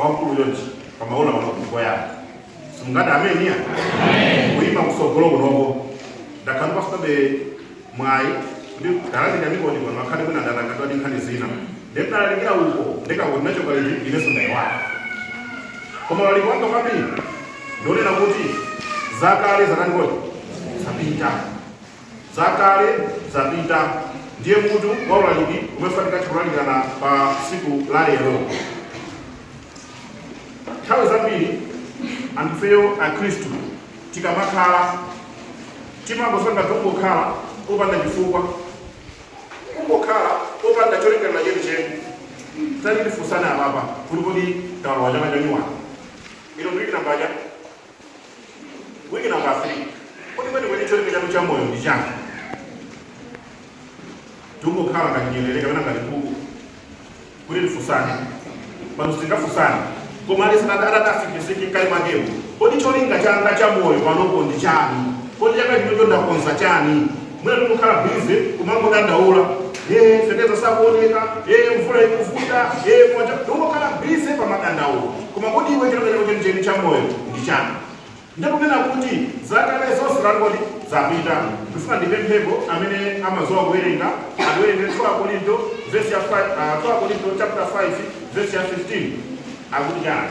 wamkulu chonchi pamaola mabuku yako simungati ameni wa kuima kusogolo kunoko ndakhala ndafunabe mwayi kuti ndalandira mikono pano ngakhale kuti ndatangwa ndi nkhani zina ndiye ndalalikira uko ndiye kaya kuti ndachoka liti inenso ndaiwala koma ulaliki wanga kwambiri ndionena kuti zakale zangoti zapita Zakale zapita ndiye mutu wa ulaliki umene tifunika titha kulalikirana pa tsiku la lero. Nthawi zambiri anthufeyo Akhristu tikamakhala timangosanduka tongokhala popanda chifukwa, kungokhala popanda cholingalira chenicheni. Tati tifunsane apapa kuti kodi taloŵa chaka chanyuwani, ino ndi wiki nambala chani? Wiki namba 3. Kodi kwenikweni cholinga chanu cha moyo ndi chani? Tikungokhala ngati nyerere kapena ngati nkhuku kuti tifunsane. Pano sitingafunsane. Koma aliyense atazifunsa mkati mwakewo. Kodi cholinga changa cha moyo panopo ndi chani? Kodi chaka chino ndakonza chani? Mwina tikungokhala busy kumangodandaula, ee feteleza sakuoneka, ee mvula ikuvuta, ee moto. Tikungokhala busy pa madandaulo. Koma kodi iwe cholinga chako chenicheni cha moyo ndi chani? Ndikunena kuti zakale zonse tangoti zapita. Ndifuna ndipemphepo amene amaziwa kuwerenga andiwerengere 2 Akorinto vesi ya 5 aah 2 Akorinto chapter 5 vesi ya 15 akuti chani?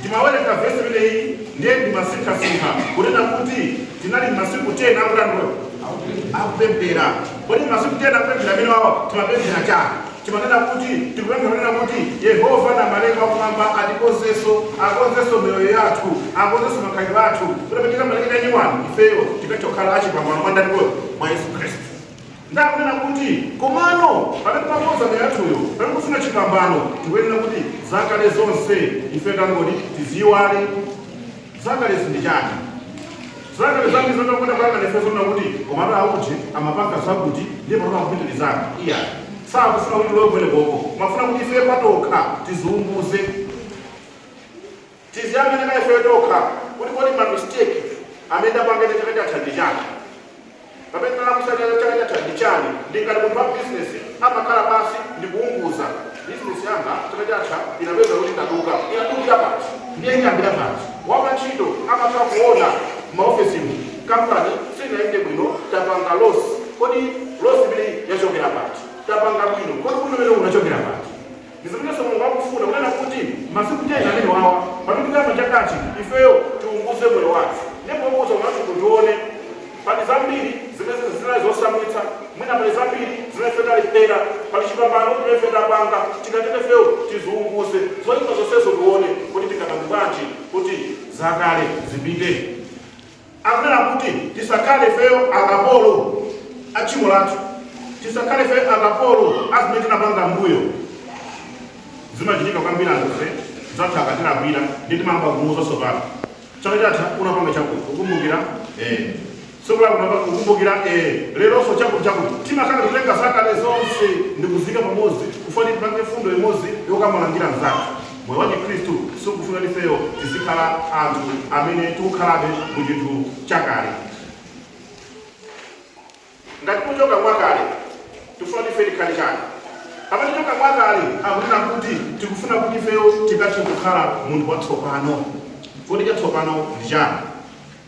Ndimawerenga vesi limeneli ndiye ndimasinkhasinkha kunena kuti tinali m'masiku 10 akutani kodi? Akupemphera. Kodi m'masiku 10 akupemphera amenewawa timapemphera chani? Timanena kuti tikupemphera kunena kuti Yehova Namalenga wa kumwamba atikonze, akonzenso miyoyo yathu, akonzenso makhalidwe athu kuti pamene tizamaliza nyuwani ifeyo tikathe kukhala achipambano mwa ndani kodi? Mwa Yesu Khristu. Ndiye akunena kuti, Komano, pamene pokonza miyoyo yathuyo, pamene tikufuna chipambano, tikuyenera kuti zakale zonse ife tangoti tiziiwale. Zakalezi ndi chani? Zakale zambiri zimene tikuona kuyang'ana ife zonena kuti, Komatu a uje amapanga zakuti, ndiye panopa akupitirizabe. Iyayi. Sakufuna kuti tilowe kumenekoko. Koma akufuna kuti ife patokha tiziunguze. Tiziyang'ane pa ifeyo tokha kuti kodi ma mistake amene ndapanga ine chaka chatha ndi chani? Pamene ndinalakwitsa chaka chatha ndi chani? Ndi ngati munthu wa business amakhala pansi ndikuunguza, business yanga chaka chatha inapeza kuti yaduka, inadukira pati? Ndiye ndiyambira pati? Wapa ntchito amatha kuona mma ofesimu, company sinayende bwino tapanga loss, kodi loss imeneyi yachokera pati? Tapanga bwino, kodi ubwino umenewu unachokera pati? Ndi zimenenso Mulungu akufuna, kunena kuti, Masiku 10 amenewawa, pamene tikuyamba chakachi, ifeyo tiunguze moyo wathu. Ndiye pounguza moyo wathu tione, pali zambiri zimene zinali zosamvetsa, mwina pali zambiri zimene ife talephera, pali chipambano chimene ife tapanga, tingatenge ifeyo tiziunguze zoipa zonsezo tione, kodi tingapange bwanji kuti zakale zipite. Akunena kuti tisakhale ifeyo akapolo a tchimo lathu, tisakhale ifeyo akapolo a zimene tinapanga m'mbuyo. Zimachitika kwambiri anthufe anzathu akatilakwira ndi timayamba kumuuza tsopano. Chaka chatha unapanga chakuti ukumbukira eh. Tsiku lako unapanga kukumbukira eh. Leronso chakuti chakuti timakhala kutenga zakale zonse ndi kuziika pamodzi kufuna tipange mfundo imodzi yokamulangira mzathu. Moyo wachikristu sukufuna kuti ifeyo tizikhala anthu amene tikukhalabe mu chinthu chakale. Ngati tikuchoka mwakale, tikufuna kuti ife tikhale chani? Pamene tichoka mwakale, akunena kuti tikufuna kuti ifeyo tikathe kukhala munthu watsopano. Kodi chatsopano ndi chani?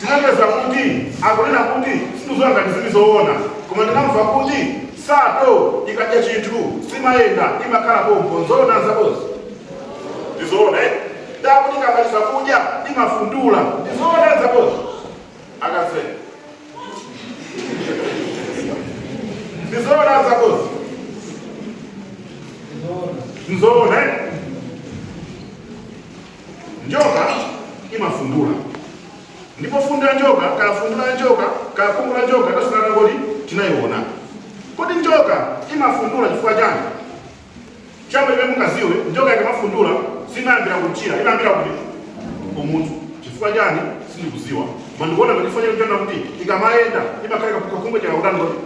Tinapeza kuti akunena kuti sindikuziwa ngati zili zoona koma ndinamva kuti nsato ikadya chinthu simayenda imakhala pompo nzoona azakhozi? Ndizoona eti? Nde akuti ikamaliza kudya imafundula ndizoona azakhozi? Akaze ndizoona azakhozi? Nzoona eti? Njoka imafundula ndipo fundu la njoka kaya fundu la njoka kaya khungu la njoka tasukana kodi tinayiona. Kodi njoka imafundula chifukwa chani? Choyamba chimene mungaziwe njoka ikamafundula simayambira kumchira imayambira kuti kumutu chifukwa chani sindikuziwa koma ndikuona kuti chifukwa chani chana kuti ikamayenda imakhala kakhungu chakakutani kodi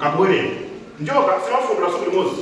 kabwerera njoka simafundula tsiku limodzi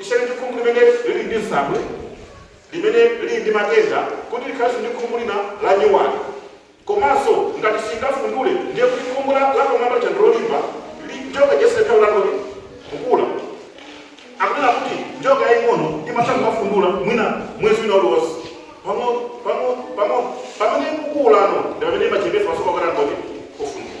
Isiyane ndi khungu limene lili ndi nsabwe, limene lili ndi matenda kuti likhalenso ndi khungu lina lanyuwani. Komanso ngati silingafundule ndiye kuti khungu la lapamwamba lija ndi lolimba, li, njoka ija singathebe ulalo li, kukula. Akunena kuti njoka yaying'ono imatha kumafundula mwina mwezi wina uliwonse pang'ono, pang'ono, pang'ono. Pamene ikukulano ndi pamene imachepetsa masiku ake kuti angoti, ofundula.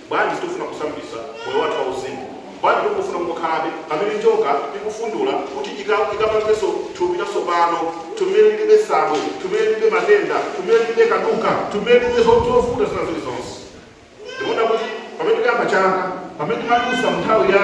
Bwanji sitikufuna kusambitsa moyo wathu wauzimu? Bwanji tikungofuna kungokhalabe pamene njoka ikufundula kuti ika, ikapangenso thupi latsopano, thupi limene liribe nsabwe, thupi limene liribe matenda, thupi limene liribe kaduka, thupi limene liribe zo- zovuta zina zilizonse? Ndimaona kuti pamene tikuyamba chaka, pamene timadutsa mu nthawi ya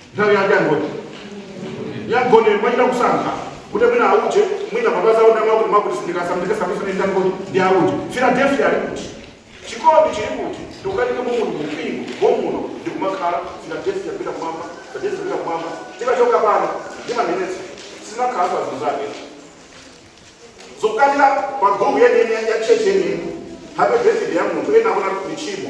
nthawi yake angoti ya mgonero mwachita kusankha kuti mwina auje mwina mapazi awo ndamwa kuti mwakuti sindikasambitsa ndi ndangoti ndi auje philadelphia ali kuti chikondi chili kuti tikukanika mumuno mumpingo mommuno ndikumakhala philadelphia pita kumwamba philadelphia pita kumwamba tikachoka pano ndimanenetsa sinakhala pazinthu zake zokukatira pa group yeniyeni ya church yeniyeni happy birthday ya munthu ena akuona michimo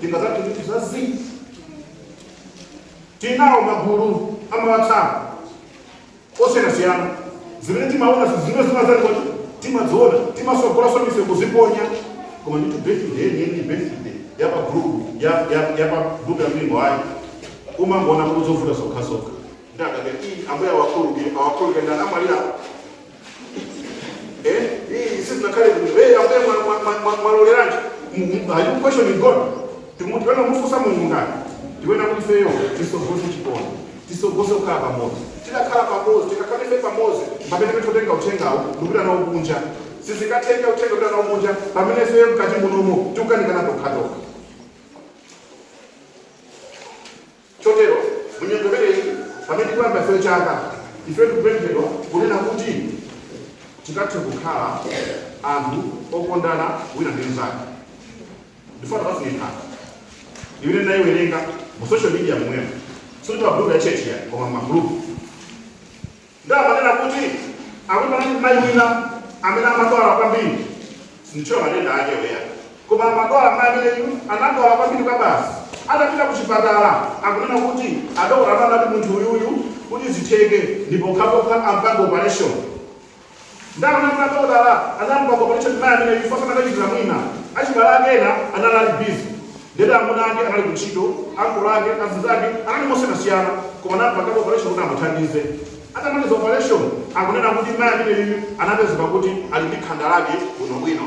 tingazati zinthu za zii tinawo magulu a ma WhatsApp osiyanasiyana zimene timaona zimene zimazali kuti timadziona timatsogolanso ndife kuziponya koma nditu birthday yeniyeni birthday ya pa group ya ya ya pa group ya mpingo ayi umangoona kuti zovuta zokhazokha ndakake iyi ambuye awakhululukire awakhululukire ndani amalira Eh, hii sisi tunakaa kwenye wewe Ambuye mwa- mwa- mwa- mwa- mwaloleranji. M- m- Are you questioning God? Timutwena mufunsa Mungu ndani? Tiyenera kuti ifeyo titsogoze chikondi. Titsogoze kukhala pamodzi. Tikakhala pamodzi, tikakhala ife pamodzi. Mpamene ife titenga uthengawo, ndikupita nawo kunja. Sitingatenge uthenga kupita nawo kunja. Pamene ifeyo mkati munomo tikukanikana tokhatokha. Chotero, mu nyengo imeneyi, pamene tikuyamba ife chaka, ife tikupemphedwa kunena kuti tikathe kukhala anthu okondana wina ndi mnzake. Ndifuna tikafunye nkhani imene ndinayiwerenga mu social media momwemo, sikuti pa group ya church ayi, koma m'magroup. Ndipo amanena kuti akuti panali mayi wina amene amadwala kwambiri sinditchula matenda akewo ayi koma amadwala mayi ameneyu anadwala kwambiri kwabasi atapita ku chipatala akunena kuti adokotala anati munthu uyuyu kuti zitheke ndi pokhapokha ampange operation Ndi zoona adokotala anampanga opaleshoni mai ameneyu chifukwa sakanachitira mwina. Achibale ake ena anali ali busy ndiyeno amuna ake anali kuntchito, ankolo ake, azinzake anali mosiyanasiyana koma anampanga opaleshoni kuti amuthandize. Atamaliza opaleshoni akunena kuti mai ameneyuyu anapezeka kuti ali ndi khanda lake bwinobwino.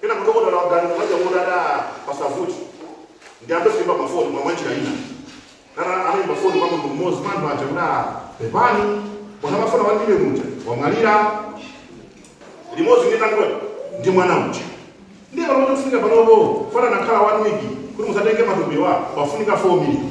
Kenako dokotala waganiza za Chauta ati, Aaa, pasavute. Ndiyambenso kuimba mafoni koma mwanjira ina. Nana anaimba foni kwa munthu mmodzi mwa anthu aja kuti, Aaa, pepani, munthu amafuna 1 million uja wamwalira. Limodzi ndi ndani kodi? Ndi mwana uja. Ndiye panopa chofunika panopo, chifukwa anakhala one week kuti mudzatenge matupiwa, pafunika 4 million.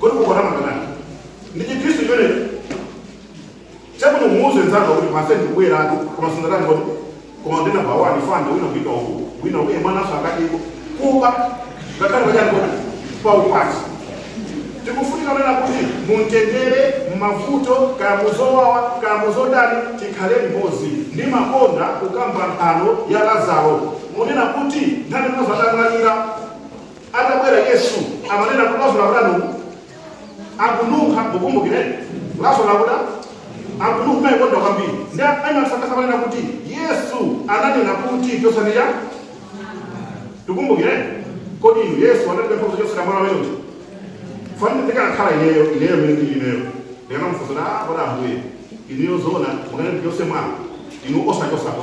kodi mukuona mwanani ndi chikhristu chimenecho chakuti umuuze nzanga kuti mase ndikubwera anthu koma sungatani kodi koma ndina bawani fanda wina kupita uku wina uye mwananso akatiko kuba ngakhale pachani kodi paukwati tikufunika kunena kuti mumtendere mmavuto kaya muzowawa kaya muzodani tikhale limodzi ndimakonda kukamba nthano ya lazaro kunena kuti nthawi Lazaro atamwalira Atabwera Yesu amanena kuti Lazaro akuda nu akununkha mukumbukire Lazaro akuda akununkha maikonda kwambiri ndi ematsakasa amanena kuti Yesu ananena kuti chotsani mwala tikumbukire kodi inu Yesu anatipempha kuti chotsani mwala umene uja fanire ndikanakhala ineyo ineyo mene ndili ineyo ndikanamufunsa kuti ah kodi ambuye ineyo zoona mukanati chotsa mwala inu osachotsapo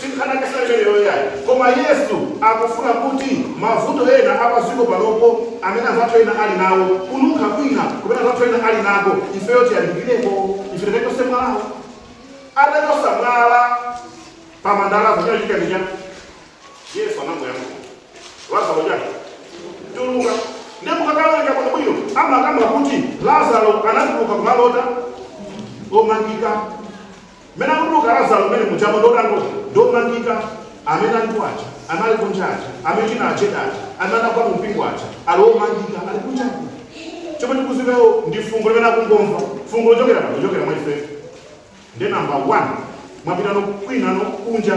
Si nkhani ya ntchito imeneyo yayi, koma Yesu akufuna kuti mavuto ena a pa dziko panopo amene anzathu ena ali nawo, kununkha kwina kumene anzathu ena ali nako, ifeyo tiyandikireko, ife tikachotse mwalawo. Atachotsa mwala pa manda a Lazaro, chinachitika ndi chiyani? Yesu anangoyankhula. Lazaro chiyani? Tuluka. Ndiye mukakawerenga bwinobwino, amakamba kuti Lazaro anatuluka koma ali otani omangika. Mmene akutuluka Lazaro mmene mujamo ndi otangoti ndi omangika amene alipo aja anali kunja aja amene china ajeda aja amene anagwa mu mpingo aja ali omangika ali kunja aja chomwe tikuzipewo ndi fungo limene akungomva fungo lochokera pano kuchokera mwa ife ndi namba 1 mwapitano kwinano kunja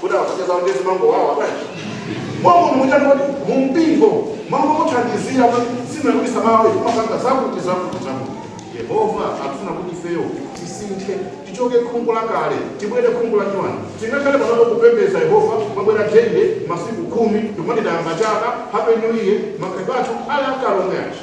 kuti akuseka kuti zimangowawa bwanji mwamuno muchani kuti mumpingo mwamuno muthandizira kuti zina kuti samawe kumapanga zakuti zakuti zakuti yehova akufuna kuti ifeyo tisinthe tichoke khungu la kale tibwere khungu la nyuwani tingakhale panopo kupembeza yehova kumabwera daily masiku khumi ndikumati tayamba chaka happy new year makhalidwe athu ali akale omwe aja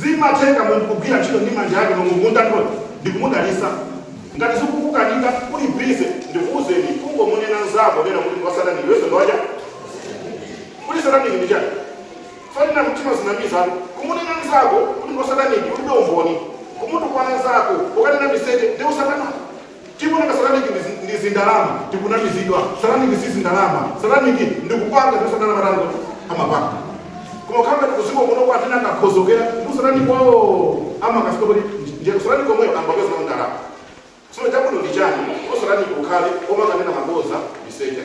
Zimatheka munthu kugwira ntchito ndi manja ake Mulungu ndikutani ndikumudalitsa. Ngati zikukukanika uli busy ndikuuzeni kungomunena nzako lero kuti ndi wa satanic iwenso ndi wacha? Kodi satanic ndi chani? Fana timazinamizatu. Kumunena nzako kuti ndi wa satanic ulibe umboni. Kumutukwana nzako ukanena miseche ndi usatana. Tikunena satanic ndi ndi zindalama tikunamizidwa satanic si zindalama satanic ndi kupanga zimene satana amati angoti amapanga koma kukhala ngati kudziko kuno kwa atena kakhozokera ndi satanic wawo amakafika kuti ndiye satanic omweyo angapeza nawo ndalama tsono chabwino ndi chani ndipo satanic ukhale omakanena mabodza miseche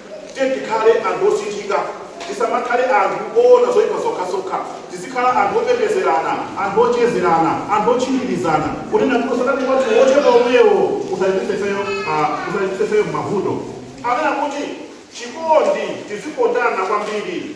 Tiyeni tikhale anthu osinthika. Tisamakhale anthu oona zoipa zokhazokha. Tizikhala anthu opembezerana, anthu ochezerana, anthu otchinjirizana, kunena kuti usatani wathu wochepa womwewo usatitsitse ifeyo uh, usatitsitse ifeyo m'mavuto. Anena kuti chikondi, tizikondana kwambiri.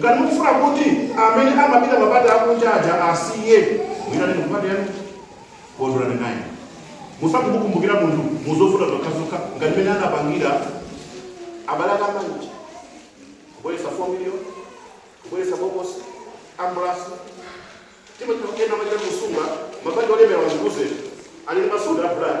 Ngati mukufuna kuti amene amapita mapate akunja aja asiye, muitaneni kupate yanu. Kondwerani naye. Musati mukumbukira munthu mu zovuta zokhazokha ngati mmene anapangira abale ake ambali uja, kubweretsa 4 million, kubweretsa bokosi, ambulance. Timachita ena amachita kusunga mabanja olemera wazikuze ali ndi masudi a bulaya.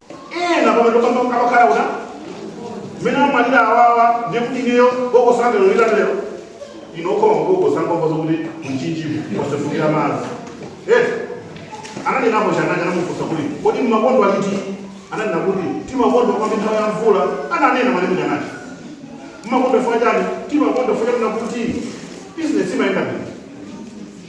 ena pamene pamwe amakhala uona mmene amalira awawa ndiye kuti ineyo bokosangelo lilatero ino ukoma kubokosangombo zokuti mtsinjewo wasefukira madzi Eh, ananenako chiyani anamufunsa kuti kodi mumakonda chiti ananena kuti timakonda kwambiri nthawi ya mvula ananena nanga chiyani mumakonda chifukwa chani timakonda chifukwa chonena kuti business imayenda bwino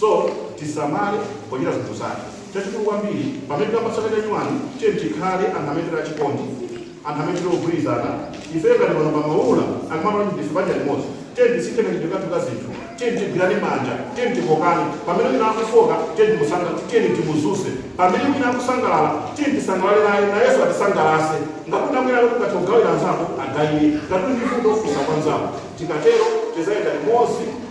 So, tisamale pochita zinthu zathu. Chachikulu kwambiri, pamene tikamba chaka cha nyuwani, tiyeni tikhale anthu amene tili achikondi, anthu amene tili ogwirizana. Ifeyo ngati pano pa Maula, akamati kuti ndife banja limodzi, tiyeni tisinthe kachitidwe kathu ka zinthu. Tiyeni tigwirane manja, tiyeni tikokane. Pamene wina akufoka, tiyeni timusunge, tiyeni timudzutse. Pamene wina akusangalala, tiyeni tisangalale naye, nayenso atisangalatse. Ngati wina uli ndi zoti ungathe kugawira anzako, ugawire. Ngati uli ndi vuto, funsa kwa mnzako. Tikatero, tidzayenda limodzi.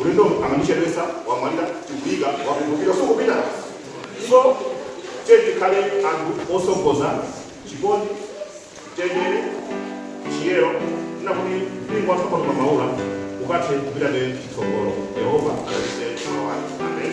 Ulendo amandichedwesa wamwalira tikuyika wa chikumbutso sukupita so tiye tikhale anthu osogoza chikondi mtendere chiyero kunena kuti mpingo wathu wa pano pa maula ukathe kupita chitsogolo yehova adalitse moyo wanu amen